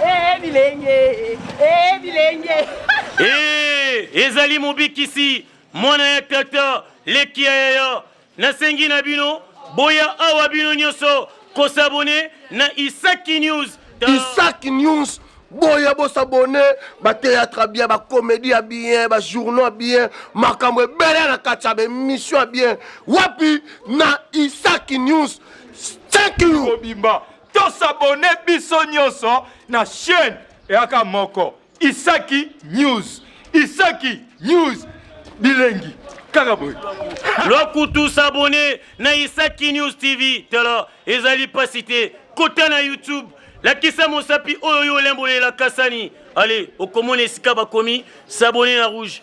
Ee bilenge, ee bilenge. Ee, ezali mobikisi, mwana ya tata, leki ya yaya. Nasengi na bino, boya awa bino nyonso, kosabone na Isaki News. Isaki News boya bosabone bateatre ya bien bakomedi ya bien bajournaux ya bien makambo ebele na kati ya baemission ya bien wapi na isaki news thank you To s'abonner biso nionso na chaine eyaka moko Isaki News. Isaki News bilengi kaka boye. Lokutu s'abonner na Isaki News TV tala ezali pasi te kota na YouTube lakisa mosapi oyo yo olembolelaka sani ale okomona esika bakomi s'abonner na rouge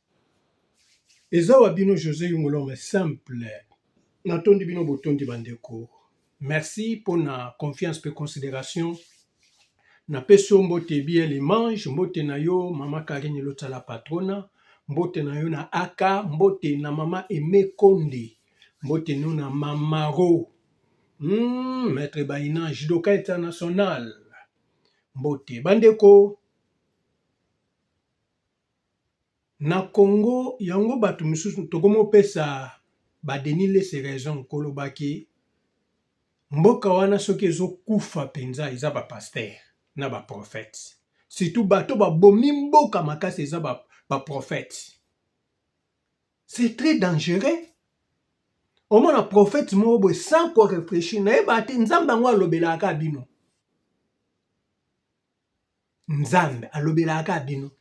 Eza wa bino Jose Yumulome simple natondi bino botondi ba ndeko merci pona confiance pe consideration na pesi yo mbote biel image mbote na yo mama Carine Lotsa la patrona mbote na yo na AK mbote na mama Aime Konde mbote no na mama Ro hmm, maître Baina judoka international mbote ba ndeko Na Congo yango batu misusu tokomi kopesa ba Denis lese raison koloba ke mboka wana soki ezo kufa penza eza ba pasteur na ba prophète surtout bato ba bomi mboka makasi eza ba prophète c'est très dangereux omona prophète moko boye sans ko reflechir nayebate nzambe yango alobelaka bino. Nzambe alobelaka kaka bino.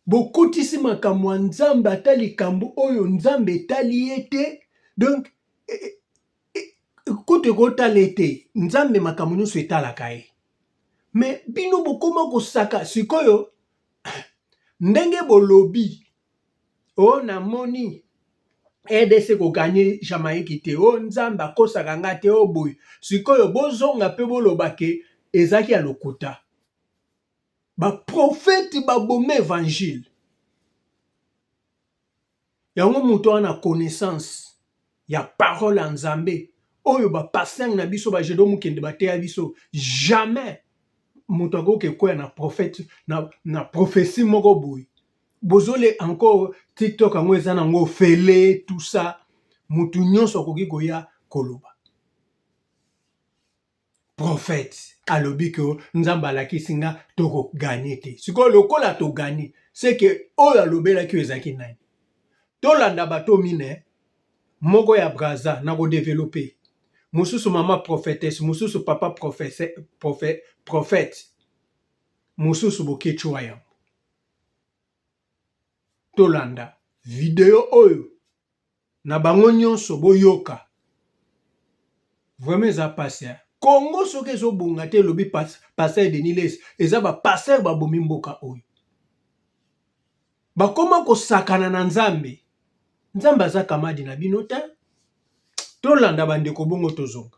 Bokotisi makambo ya Nzambe ata likambo oyo Nzambe etali ye te. Donc e, e, e, kutu ekotala ye te. Nzambe makambo nyonso etalaka ye. Me bino bokoma kosaka sikoyo ndenge bolobi oh na moni rdc ko gagne jamaïque te oh nzambe akosaka nga te oh boye sikoyo bozonga mpe boloba ke ezalaki ya lokuta baprofete baboma evangile yango moto wana connaissance ya parole ya nzambe oyo ba pasteur na biso ba jedo mukende bateya biso jamais moto akoki ekoya na prophète na, na prophetie moko boye bozole encore tiktok yango eza nango ofele tout ça moto nyonso akoki koya koloba prophète alobi que nzambe alakisi nga toko gagner te sikoyo lokola to gagner c'est que oyo alobelaki oyo ezalaki nani tolanda bato mine moko ya braza na kodevelope mosusu mama prophetesse mosusu papa prophète mosusu boketshuwa yango tolanda video oyo na bango nionso boyoka vraiment eza pasi hein Congo soki ezo bonga te elobi pasteur Denis les eza ba pasteur ba bomi mboka oyo bakoma kosakana na nzambe nzambe aza kamadi na bino te tolanda bandeko bongo tozonga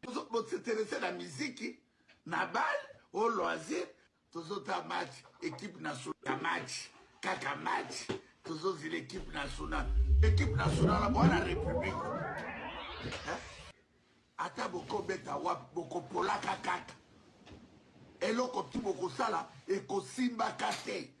Tozo bo s'interesser na miziki, na bal, o loisir, tozo ta match, equipe nationale ya match, kaka match, tozo zela equipe nationale, equipe nationale mwana republique hein? Ata boko beta wapi boko polaka kaka, eloko tout boko sala eko simbaka te.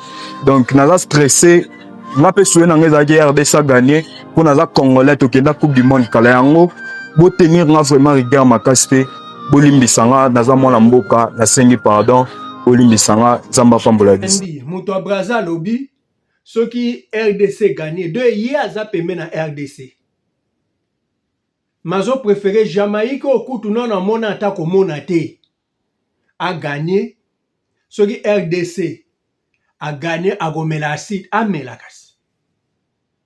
donc naza stresse nga mpe suye na nga ezalaki rdc aganye mpo naza congolais tokenda coupe du monde kala yango botenir nga vraiment rigueur makasi mpe bolimbisa nga naza mwana mboka nasengi pardon bolimbisa nga nzambe apambola biso moto ya braza alobi soki rdc gagne de ye aza pembe na rdc mazo prefere jamaïque okutu nano amona ata komona te a gagner soki rdc a gagner akomela acide amela kasi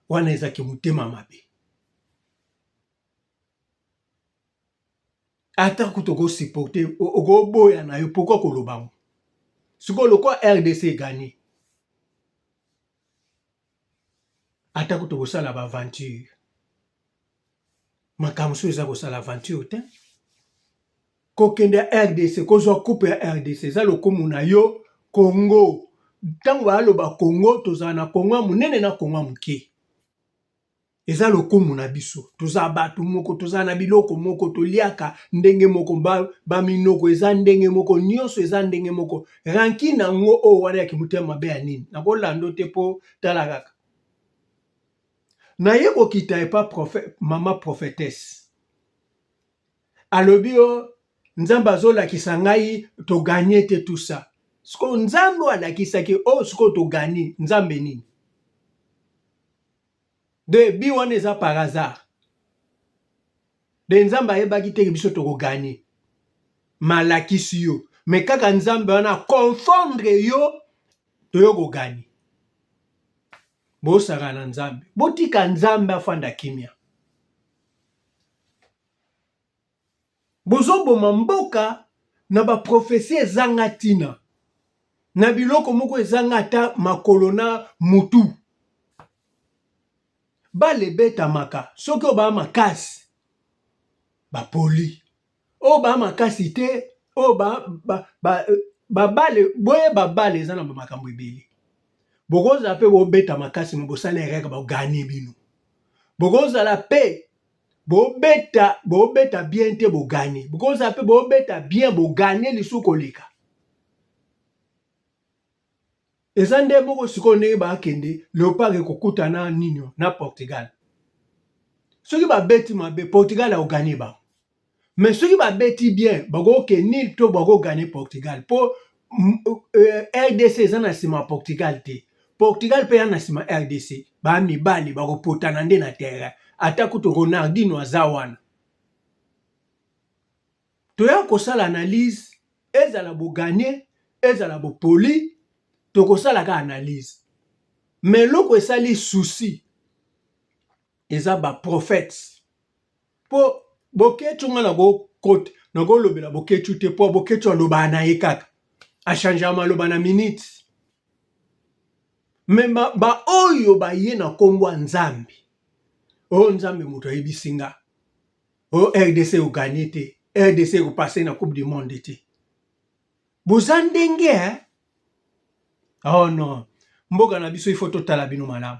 wana eza ki motema mabe ata kutu oko supporter okoboya na yo pourquoi koloba yango sikoyo lokola rdc e gagner atako tokosala ba aventure makambo mosusu eza kosala aventure te kokende ya rdc kozwa coupe ya rdc eza lokumu na yo congo ntango baaloba congo tozala na congo ya monene na congo ya moke Eza lokumu na biso, toza batu moko, toza na biloko moko, toliaka ndenge moko, ba minoko eza ndenge moko, nionso eza ndenge moko, rancune yango oyo wana ya kimotema mabe ya nini? Nakolanda yo te po tala kaka naye kokita epa prophète, mama prophetesse alobi yo nzambe azolakisa ngai to gagne te tout ça sikoyo nzambe oyo alakisaki oyo oh, sikoyo togani nzambe nini Debut wana eza par hasard. De Nzambe ayebaki te que biso toko gagner. Malakisi yo. Mais kaka Nzambe wana confondre yo toyo ko gagner. Bosaka na Nzambe. Botika Nzambe afanda kimia. Bozo boma mboka na ba prophetie ezanga tina, na biloko moko ezanga ata makolo na mutu. Balle ebetamaka soki oyo baa makasi ba poli, oyo baa makasi te oyo ba ba ba ba balle boyeba balle eza na ba makambo ebele. Bokozala pe bobeta makasi me bosala erreur ba gagne bino, bokozala pe. bobeta bobeta bien te bogane bokozala mpe bobeta bien bogane lisusu koleka eza nde moko sikoyo ndenge bakende leopard ekokutana nini na portugal soki babeti mabe portugal aogane bango mais soki babeti bien bakoke nil to bako gagne portugal mpo euh, rdc eza na nsima portugal te portugal mpe ya na nsima rdc bamibali bakopotana nde na terrain ata kutu ronaldino aza wana toya kosala analyse ezala boganye ezala bopoli tokosalaka analyse mais eloko esali souci eza baprophètes Po boketshu nga nako kota nako lobela boketshu te po boketshu alobaka na ye kaka a changea maloba na minute me ba oyo baye na kombo ya nzambe o oh, nzambe moto ayebisi nga o oh, rdc eganye te rdc ekopase na coupe du monde te boza ndenge eh? oh non mboka na biso ifo totala bino malamu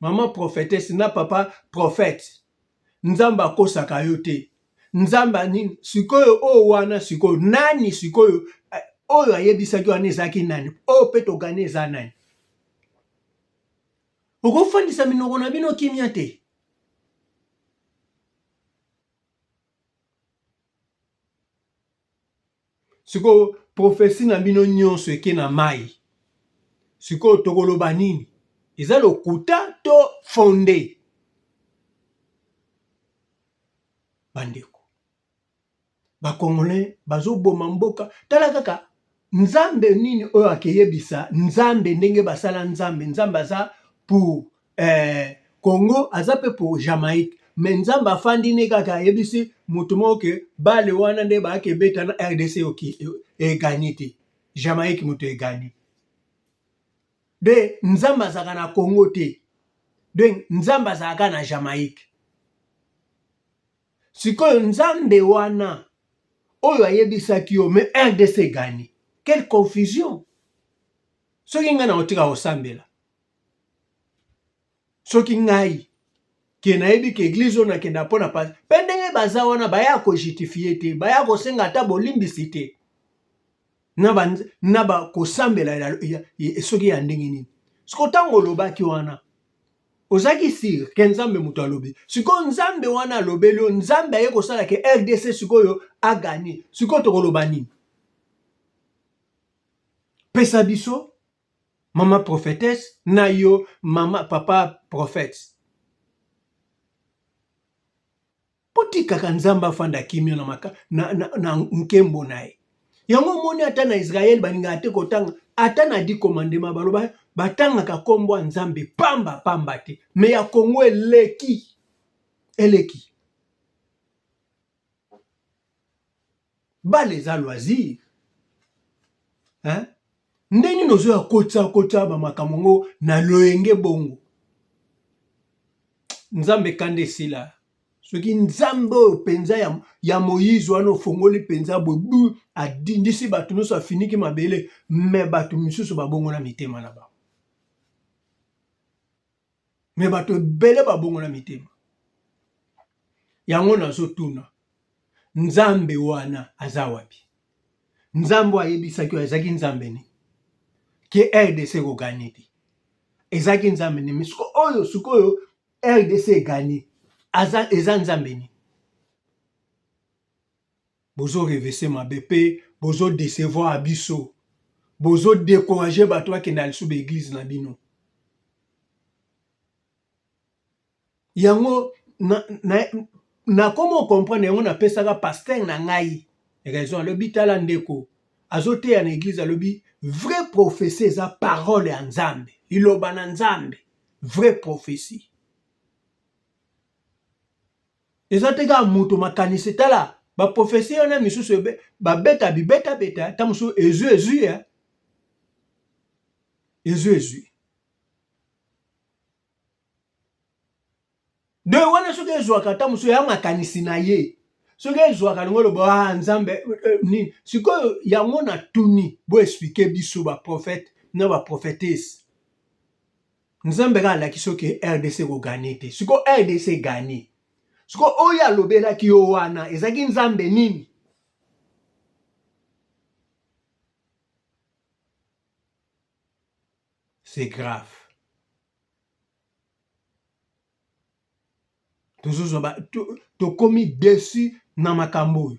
Maman prophetesse na papa prophète nzambe akosaka yo te nzambe anini sikoyo oyo wana sikoyo nani sikoyo eh, oyo ayebisaki wana ezalaki nani oyo mpe togani eza nani okofandisa minoko na bino kimia te sikoyo prophetie na bino nyonso eke na mayi sikoyo tokoloba nini eza lokuta to fonde bandeko bakongolais bazoboma mboka tala kaka nzambe nini oyo akeyebisa nzambe ndenge basala nzambe nzambe aza pour Eh, Congo aza pe po Jamaïque mais Nzambe afandi ne kaka ayebisi moto moko ke bale wana nde baake ebeta na RDC oki eganye te Jamaïque moto eganye de Nzambe azalaka na Congo te de Nzambe azalaka na Jamaïque sikoyo Nzambe wana oyo ayebisaki yo mais RDC eganye quelle confusion soki ngai na otika kosambela soki ngai ke nayebi ke eglise oyo nakenda mpo na pasi mpe ndenge baza wana baya kojutifie te baya kosenga ata bolimbisi te na bakosambela soki ya ndenge nini siko ntango olobaki wana ozalaki sire ke nzambe moto alobi sikoyo nzambe wana alobeli yo nzambe aye kosala ke rdc sikoyo agani sikoyo tokoloba nini pesa biso Maman prophetesse na yo maman papa prophète botikaka nzambe afanda kimia na, maka, na, na, na nkembo na ye yango omoni ata na israele balingaka te kotanga ata na di komandema baloba batangaka nkombo ya nzambe pamba pamba te me ya kongo eleki eleki Bale eza loisir hein nde nini ozo ya kotsa kotsa ba makambo ngo na loyenge bongo nzambe kanda esila soki nzambe oyo mpenza ya, ya moyize wana ofongoli mpenza bobu adindisi bato nyonso afiniki mabele me bato mosusu babongola mitema na bango me bato ebele babongola mitema yango nazotuna nzambe wana aza wapi nzambe ayebisaki oyo ezalaki nzambe nini ke rdc ekoganye te ezalaki nzambe nini siko oyo sikoyo rdc eganye eza nzambe nini bozo revese mabe pe bozo decevoir biso bozo decourager bato bakenda lisusu ba eglise na bino yango na, na, na komo comprendre yango napesaka pasteur na ngai raison alobi tala ndeko azoteya na eglise alobi vrai prophetie eza parole ya nzambe liloba na nzambe vrai prophetie Eza te kaka moto makanisi tala ba prophetie wana misusu ebe ba beta bi beta beta ta musu ezui ezui ya ezui ezui de wana soki ezwaka ta musu ya makanisi na ye soki ezwaka lingo lobo ah nzambe eh, eh, nini sikoyo yango na tuni bo expliquer biso ba prophète na ba prophétesse Nzambe kaka alakisi yo ke RDC eko gagner te. Siko RDC e gagner. Siko oyo alobelaki yo wana ezalaki Nzambe nini? C'est grave. tozozwa ba tokomi to desu na makambo oyo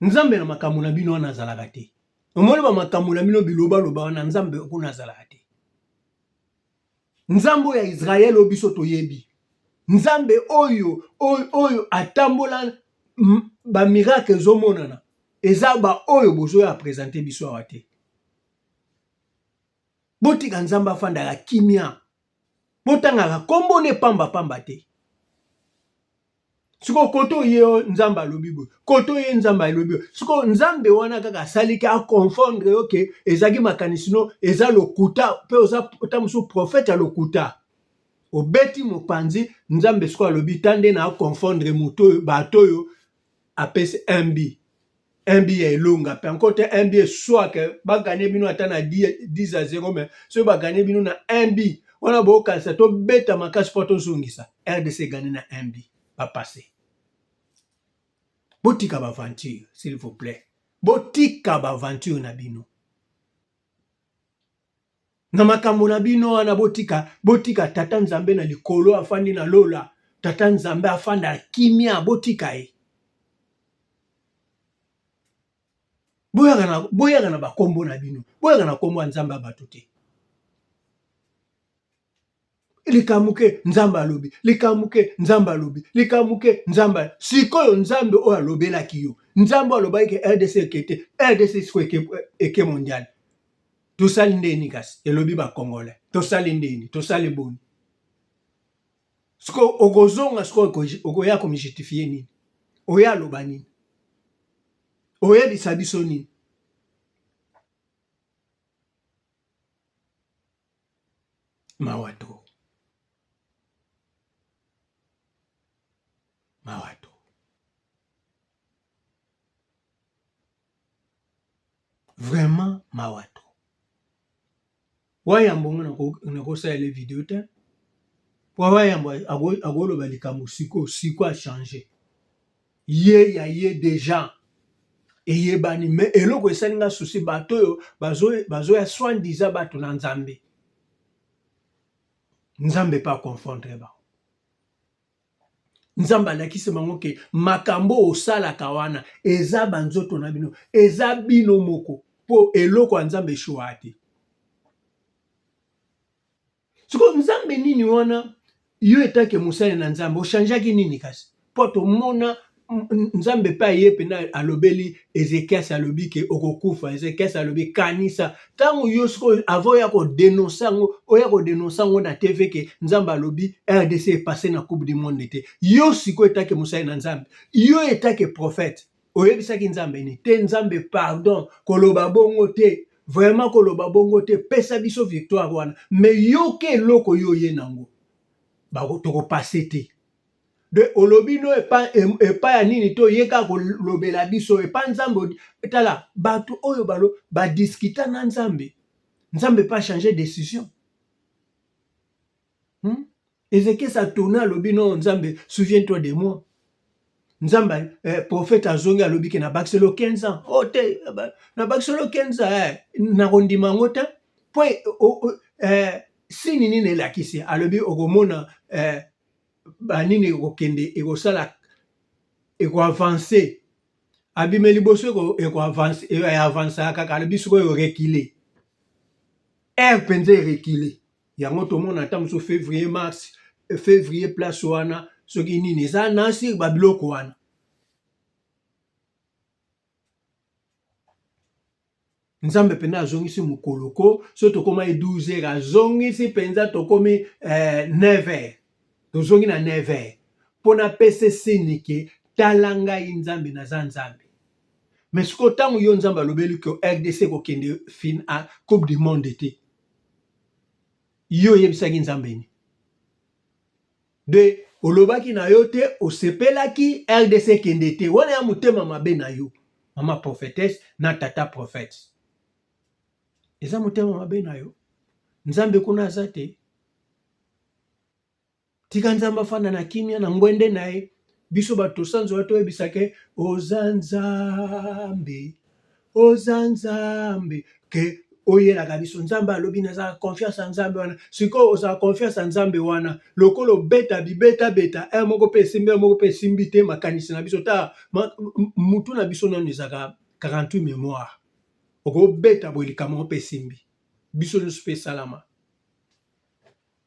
Nzambe na makambo na bino wana azalaka te. Omoni ba makambo na bino biloba loba wana Nzambe kuna azalaka te. Nzambe oyo ya Israel oyo biso toyebi. Nzambe oyo oyo, oyo atambola ba miracle ezomonana eza ba oyo bozoya presente biso awa te. Botika Nzambe afandaka kimia. Botangaka kombo ne pamba pamba te. sikoyo kote oye oyo nzambe alobi boye kote oye nzambe alobi boye sikoyo nzambe wana kaka asaliki aconfondre yo ke ezalaki makanisi no eza lokuta mpe oza ta mosusu profete ya lokuta obeti mopanzi nzambe sikoyo alobi ta nde na aconfondre moto oyo bato oyo apesi mb NB ya elonga pe encore te NB soit que ba gagner bino ata na 10 à 0 mais soki ba gagner bino na NB wana bo kanisa to beta makasi po to zongisa RDC gagner na NB ba passer botika ba aventure s'il vous plaît botika ba aventure na bino na makambo na bino wana botika botika tata nzambe na likolo afandi na lola tata nzambe afanda kimia botika ye boyaka na boyaka na bakombo na bino boyaka na kombo ya nzambe ya bato te likamuke nzambe alobi likamuke nzambe alobi likamuke nzambe sikoyo nzambe oyo alobelaki yo nzambe oyo alobaki ke rdc ekete rdc siko eke, eke mondial tosali ndeni kasi elobi bakongole tosali ndeni tosali boni sikoyo okozonga sikoyo okoya komijustifie nini oyo aloba nini oyebisa biso nini Mawa trop. Mawa trop. Vraiment mawa trop. wayambo ngo nakosalela video te po wayambo akoloba likambo sikoyo siko achange ye ya ye deja eyebani me eloko esali nga susi bato oyo bazoya bazo soin disa bato na nzambe nzambe pa confondre ba nzambe alakisi bango ke makambo osalaka wana eza banzoto na bino eza bino moko mpo eloko ya nzambe eshuwa te sikoyo nzambe nini wana yo etake mosali na nzambe ochangeaki nini kasi mpo tomona nzambe mpe aye mpena alobeli ezekias alobi ke okokufa ezekias alobi kanisa ntango yo sikoyo ava oya kodenonse yango oya kodenonse yango na tv ke nzambe alobi rdc epase na coupe du monde te yo sikoyo etake mosali na nzambe yo etake prophète oyebisaki nzambe ni te nzambe pardon koloba bongo te vraiment koloba bongo te pesa biso victoire wana me yoka eloko yo oye nango tokopase te de olobi no epai epa ya nini to ye kaka kolobela biso epai nzambe tala bato oyo balo badiskita na nzambe nzambe pa change decision Hmm? Ezekiel Satona alobi non Nzambe souviens toi de moi. Nzambe eh, prophète azongi alobi ke na bakisi lo 15 ans. Oh te na bakisi lo 15 ans eh, na kondima yango te. Po eh, oh, oh, eh, sini nini elakisi alobi okomona eh, banini ekokende ekosala ekoavanse abime liboso ekoavanse eh, avansaka kaka alobi sikoyo rekile ere mpenza erekile yango tomona ata mosusu fevrier mars fevrier place wana soki nini eza nasi babiloko wana nzambe mpenza azongisi mokolo ko so tokomaki 12 heures azongisi mpenza tokomi eh, 9 heures tozongi na 9 heures mpo napese sini ke tala ngai nzambe naza nzambe me sikoyo ntango yo nzambe alobeli ke rdc kokende fin a coupe du monde te Yo oyebisaki Nzambe nini? De olobaki na yo te, osepelaki RDC ekende te. Wana ya motema mabe na yo, mama prophetesse na tata prophète. Eza motema mabe na yo. Nzambe kuna aza te. Tika Nzambe afanda na kimia na ngwende na ye. Biso bato tosanzola toyebisa ke oza Nzambe, oza Nzambe ke oyelaka biso. Nzambe alobi naza confiance ya Nzambe wana. Sikoyo ozala confiance ya Nzambe wana lokola obeta bibeta beta heure moko mpe esimbi heure moko mpe esimbi te makanisi na biso ta mutu na biso nanu ezaka 48 memoire okobeta boye likambo moko mpe esimbi biso nyonso mpe esalama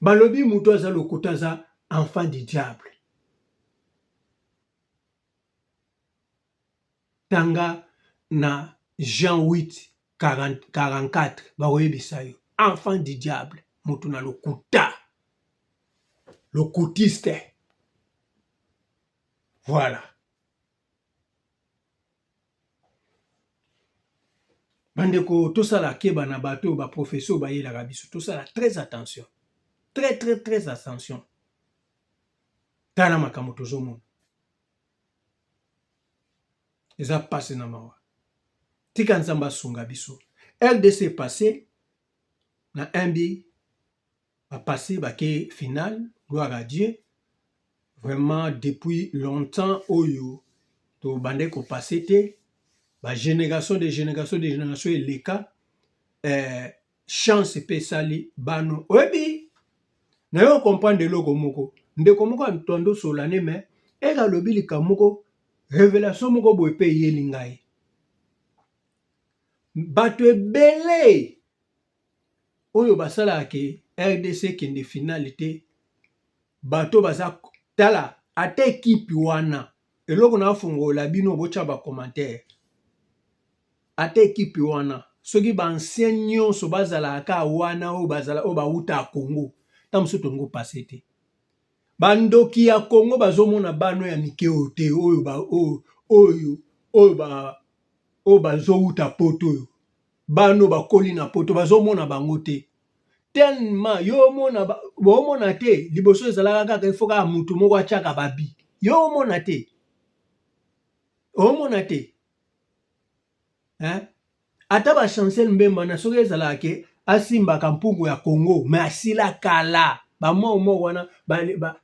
Balobi mutu aza lokuta aza enfant du diable. Tanga na Jean 8 40, 44 bakoyebisa yo enfant du diable mutu na lokuta lokutiste voilà bandeko tosala keba na bato oyo baprofesi oyo bayelaka biso tosala très attention très très très attention tala makambo tozomona eza mpasi na mawa tika nzambe asunga biso rdc passe na mb ba passe ba ke final gloire à Dieu vraiment depuis longtemps oyo to bandaki ko passe te ba generation de generation de generation eleka eh, chance pe esali bano oyebi na yo comprendre eloko moko ndeko moko ya mtondo solane me eke alobi likambo moko revelation moko boye mpe eyeli ngai bato ebele oyo basalaka ke rdc ekende finale te bato baza tala ata ekipe wana eloko na afongola bino botya bacommentaire ata ekipe wana soki baancien nyonso bazalaka ka wana oyo bazala oyo bawuta ya congo nta mosusu tolingo pase te bandoki ya congo bazomona bano ya mike oyo te oyo oyo oyo oyo bazowuta poto oyo Bana oyo bakoli na poto bazomona bango te tellement yo omona omona te liboso ezalaka kaka il faut kaka mutu moko atiaka babi yo omona te omona te hein? ata ba chancel mbemba na soki ezalaka ke asimbaka mpungu ya congo me asila kala bamoko moko wana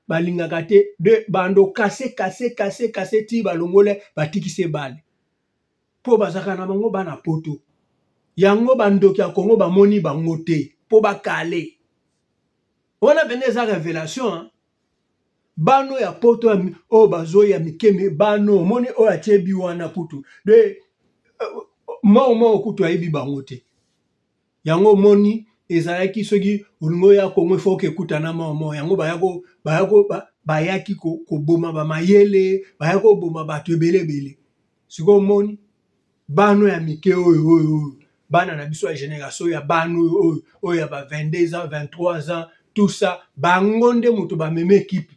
balingaka te de bando kase kase kase kase ti balongole batikise bale Po bazalaka na bango bana poto yango ba ndoki ya congo ba moni bango te po ba kale wana penza eza revelation hein bano ya poto ya oyo bazoyi ya mike mi bano omoni oyo atie bi wana kutu de euh, mao mao kutu ayebi bango te Yango omoni ezalaki soki olingi oya Congo il faut que ekutana mwa mwa yango bayaki koboma ba mayele bayaki koboma bato ebele ebele sikoyo omoni bana ya mike oyo oyo oyo bana na biso ya generation ya bana oyo oyo oyo ya ba 22 ans 23 ans tout ça bango nde moto bamemi ekipe.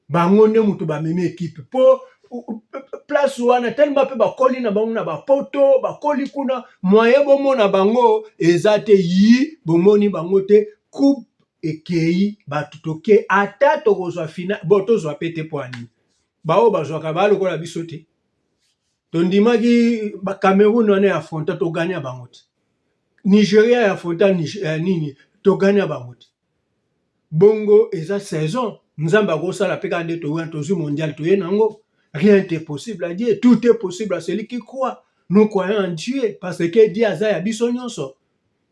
bango nde moto bamemi ekipe mpo place wana telema mpe bakoli na bango na bapoto bakoli kuna moye bomona bango eza te yi bomoni bango te coupe ekei bato toke ata tokozwa fina bo tozwa mpe te mpo ani baoyo bazwaka baa lokola biso te tondimaki bacameroun wana ya fronta togania bango te nigeria ya fronta eh, nini togania bango te Bongo eza saison nzambe akosala pe kaka nde toye wana tozwi mondial toye na yango rien est impossible à Dieu tout est possible à celui qui croit nous croyons en Dieu parce que Dieu aza ya biso nyonso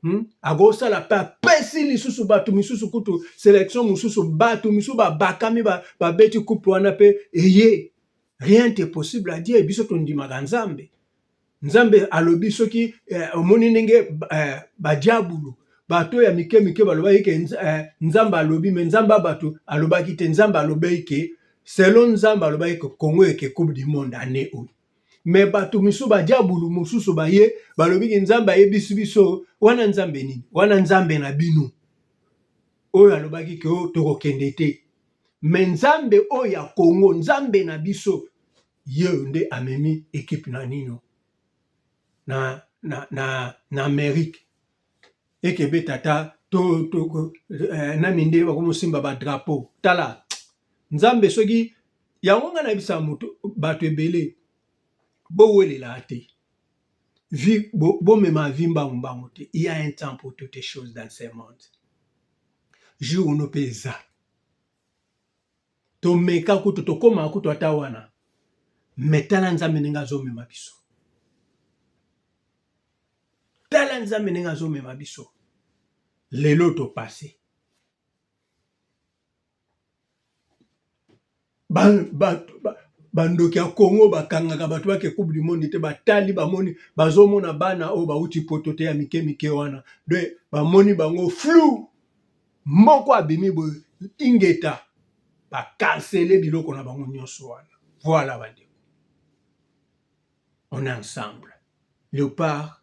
hmm? akosala pe apesi lisusu bato misusu kutu selection mosusu bato misusu babakami babeti ba coupe wana pe eye rien est impossible à Dieu biso tondimaka nzambe Nzambe alobi soki eh, omoni ndenge eh, badiabulu bato ya mike mike balobaki ke eh, Nzambe alobi me Nzambe ya bato alobaki te Nzambe alobaki ke selon Nzambe alobaki ke Congo eke coupe du monde année oyo me bato misusu badiabulu mosusu baye balobi ke Nzambe ayebisi biso wana Nzambe nini wana Nzambe na bino oyo alobaki ke oh, tokokende te me Nzambe oyo ya Congo Nzambe na biso Yeyo nde amemi equipe na nino na na na na Amerique ekebe tata to to eh, na minde bakomosimba ba drapeau tala nzambe soki yango ngai nayebisa moto bato ebele bowelela te vi bomema bo vi mbangu mbangu te il y a un temps pour toutes choses dans ce monde jour no mpe eza tomeka kutu tokoma kutu ata wana me tala nzambe ndenge azomema biso tala nzambe ndenge azomema biso lelo topase bandoki ba, ba, ba ya congo bakangaka bato bake coupe du monde te batali bamoni bazomona bana oyo bauti poto te ya mike mike wana de bamoni bango flou Moko abimi boye ingeta ba cancele biloko na bango nionso wana voilà ba ndeko on est ensemble leopard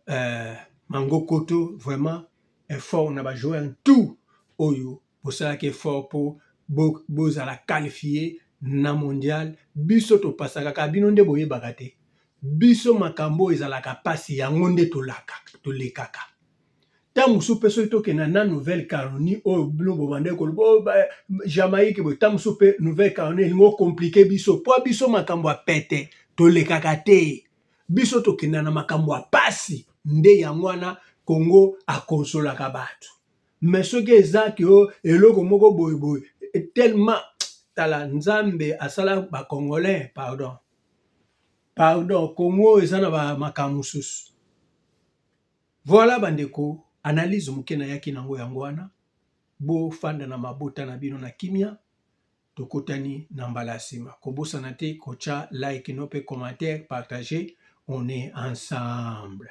euh, mangokoto vraiment effort na ba joueur tout oyo bosalaki effort po bozala bo qualifie na mondial biso topasaka kaka bino nde boyebaka te biso makambo ezalaka pasi yango nde tolakaka tolekaka Tango mosusu mpe soki tokenda na nouvelle caronie oyo bino bobandaki koloba oyo ba jamaïque boye ntango mosusu mpe nouvelle caronie elingi okomplike biso mpo biso makambo ya pete tolekaka te biso tokenda na makambo ya mpasi nde yango wana kongo akonsolaka bato me soki eza ke o oh, eloko moko boyeboye tellement tala nzambe asala bacongolais pardon pardon kongo eza na makambo mosusu Voilà ba ndeko analyse muke nayaki nango yango wana bo fanda na mabota na bino na kimia tokutani na mbala ya sima kobosana te kotia like no pe commentaire partager on est ensemble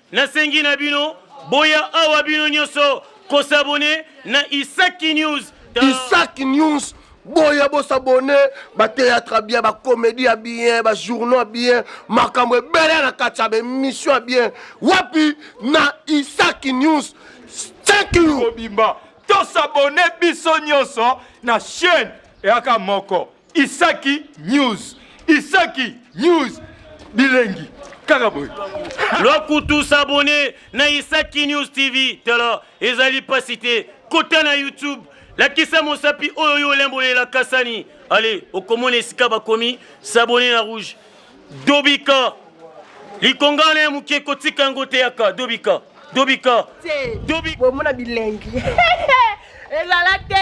Nasengi na bino boya awa bino nyoso ko s'abonner na Isaki News. Isaki News boya bosabone bateatre ya bien bakomedi ya bien bajournaux ya bien makambo ebele na kati ya baemission ya bien wapi na isaki news kobimba tosabone biso nyonso na chaîne eyaka moko Isaki News. Isaki News. Bilengi. Kaka boye. Lokutu s'abonner na Isaki News TV. Tala ezali pasi te. Kota na YouTube. lakisa mosapi oyo yo olembolela kasani ale okomona esika bakomi sabone na rouge dobika likonga na ya moke kotika yango teyaka dobika dobika dobika bomona bilengi ezala te